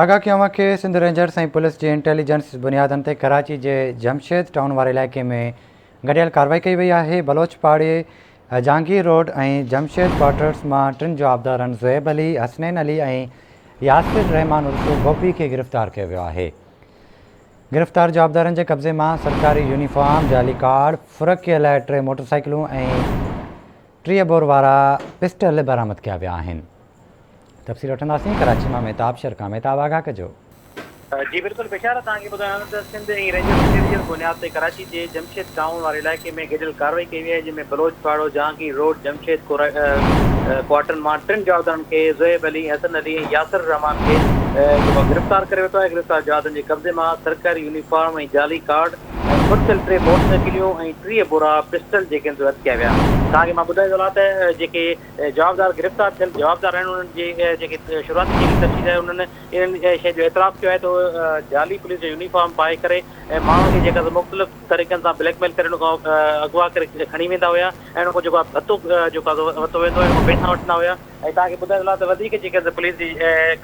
آگاهه ڪيون اوهان کي سنڌ رينجرز ۽ پوليس جي انٽيلي جنس بنيادن تي ڪراچي جي جمشيد ٽائون واري علائقي ۾ گڏيل ڪاروائي ڪئي وئي آهي بلوچ پاڙي جهانگير روڊ ۽ جمشيد ڪوارٽرز مان ٽن جوابدارن زويب علي حسنين علي ۽ ياسر رحمان عرف گوپي کي گرفتار ڪيو ويو آهي گرفتار جوابدارن جي قبضي مان سرڪاري يونيفارم جعلي ڪارڊ فرقي لاء ٽي موٽرسائيڪلون ۽ ٽيهه بور وارا پسٽل برآمد ڪيا ويا آهن تفصيل وٺنداسين ڪراچي مان مهتاب شرڪا مهتاب آگاهه ڪجو. جي بلڪل بشارت توهان کي ٻڌايان ٿو ته سنڌ ۽ رينجرز انڊيوڊيل بنياد تي ڪراچي جي جمشيد ٽائون واري علائقي ۾ گڏيل ڪارروائي ڪئي وئي آهي جنهن ۾ بلوچ پاڙو، جهانگير روڊ، جمشيد ڪوارٽرن مان ٽن جوابدارن کي زويب علي، حسن علي ۽ ياسر الرحمان کي جيڪو آهي گرفتار ڪري ورتو آهي، گرفتار جوابدارن جي قبضي مان سرڪاري يونيفارم ۽ جعلي ڪارڊ ۽ مرڪل ٽي موٽرسائيڪليون ۽ ٽيهه بورا پسٽل جيڪي آهن سي اٽڪيا ويا. توهان کي مان ٻڌائي ٿو هلان ته جيڪي جوابدار گرفتار ٿيل جوابدار آهن انهن جي جيڪي شروعاتي جيڪي تفصيل آهي انهن انهن شين جو اعتراف ڪيو آهي ته جعلي پوليس جو يونيفارم پائي ڪري ۽ ماڻهن کي جيڪا مختلف طريقن سان بليڪ ميل ڪري اغوا ڪري کڻي ويندا هيا ۽ ان کان جيڪو ڀتو جيڪو ورتو ويندو هو پيسا وٺندا هيا ۽ تان کي ٻڌائي ته وڌيڪ جيڪي پوليس جي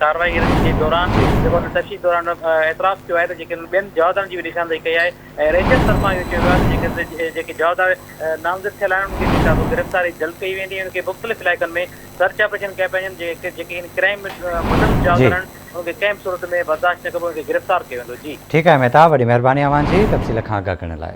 ڪارروائي جي دوران جيڪو تفصيل دوران اعتراف ڪيو آهي ته جيڪي ٻين جوابدارن جي به نشاندهي ڪئي آهي ۽ رينجرز طرفان اهو چيو ويو آهي ته جيڪي جيڪي جوابدار نامزد ٿيل آهن انهن کي جيڪا به گرفتاري جلد ڪئي ويندي ۽ انهن کي مختلف علائقن ۾ سرچ آپريشن ڪيا پيا وڃن جيڪي جيڪي ان ڪرائيم ۾ ملوث جوابدار آهن انهن کي ڪنهن به صورت ۾ برداشت نه ڪبو انهن کي گرفتار ڪيو ويندو جي. ٺيڪ آهي مهتاب وڏي مهرباني اوهان جي تفصيل کان آگاهه ڪرڻ لاء.